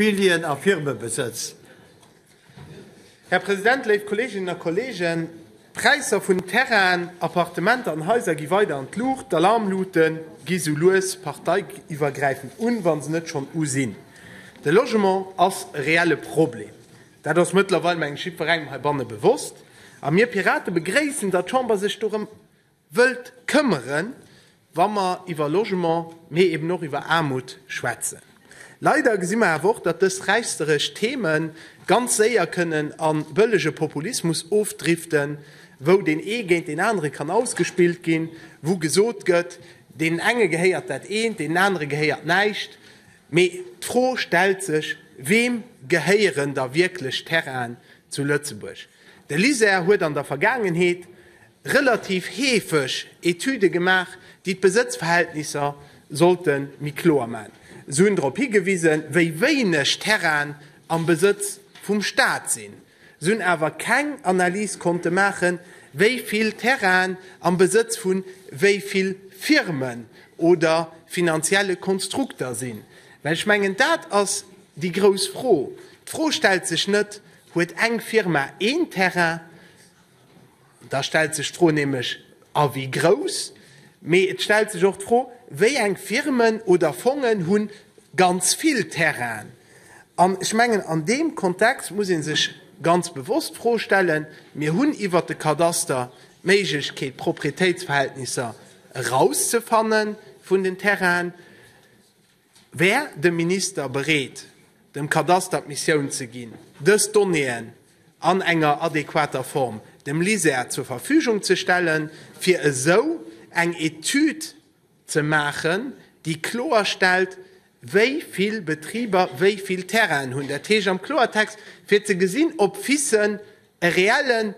Immobilien a Firmebesëtz. Här President, léif Kolleeginnen a Kolleegen, d'Präisser vun Terrainen, Appartementer an Haiser gi weider an d'Luucht, d'Alarmlute gi sou lues parteiiwwergräifend un, wa se net schonn u sinn. De Logement ass e reelle Problem. Dat ass mëttlerweil, mengen ech, jiddwerengem heibanne bewosst. A mir Pirate begréissen, datt d'Chamber sech dorëm wëllt këmmeren, wa mer iwwer Logement, mee eben och iwwer Aarmut schwätzen. Leider gesi mer awer och, datt dës räichseresch Theme ganz séier kënnen a bëllege Populismus ofdriften, wou deen ee géint deen anere kann ausgespillt ginn, wou gesot gëtt, deenen enge gehéiert dat eent, deenen anere gehéiert näischt. Mee d'Fro stellt sech, Weem gehéieren da wierklech Terrainen zu Lëtzebuerg? De LISER huet an der Vergaangenheet relativ heefeg Etüde gemaach, déi d'Besëtzverhältnisser sollte méi kloer maachen. Se hunn drop higewisen, wéi wéineg Terrainen am Besëtz vum Staat sinn. Se hunn awer keng Analys konnte maachen, wéi vill Terrainen am Besëtz vu wéi vill Firmen oder finanzielle Konstrukter sinn. Well ech mengen, dat ass déi grouss Fro. D'Fro stellt sech net, Huet eng Firma een Terrain? Da stellt sech d'Fro nämlech, A wéi grouss? Mee et stellt sech och d'Fro, Wéi eng Firmen oder Fongen hu ganz vill Terrainen? An ech mengen, an deem Kontext muss ee sech ganz bewosst d'Fro stellen, Mir hunn iwwert de Kadaster d'Méiglechkeet, d'Proprietéitsverhältnisser erauszefanne vun den Terrainen. Wär de Minister bereet, dem Kadaster d'Missioun ze ginn, dës Donnéeën an enger adequater Form dem LISER zur Verfügung ze stellen, fir esou eng Etüd ze maachen, déi kloerstellt, wéi vill Betriber wéi vill Terrainen hunn, dat heescht am Kloertext, fir ze gesinn, ob FICen e reelle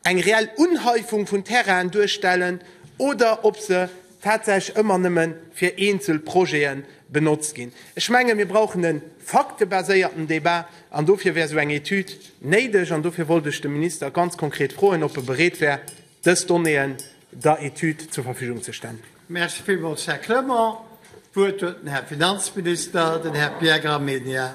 eng reell Unhäufung vun Terrainen duerstellen oder ob se tatsächlech ëmmer nëmme fir eenzel Projete benotzt ginn. Ech menge mir brauchen e faktebaséierten Débat an dofir wär esou eng Etüd néideg an dofir wollt ech de Minister ganz konkret froen, ob e bereet wär, dës Donnéeën der Etüd zur Verfügung ze stellen. Merci villmools, Här Clement. D'Wuert huet den Här Finanzminister, den Här Pierre Gramegna.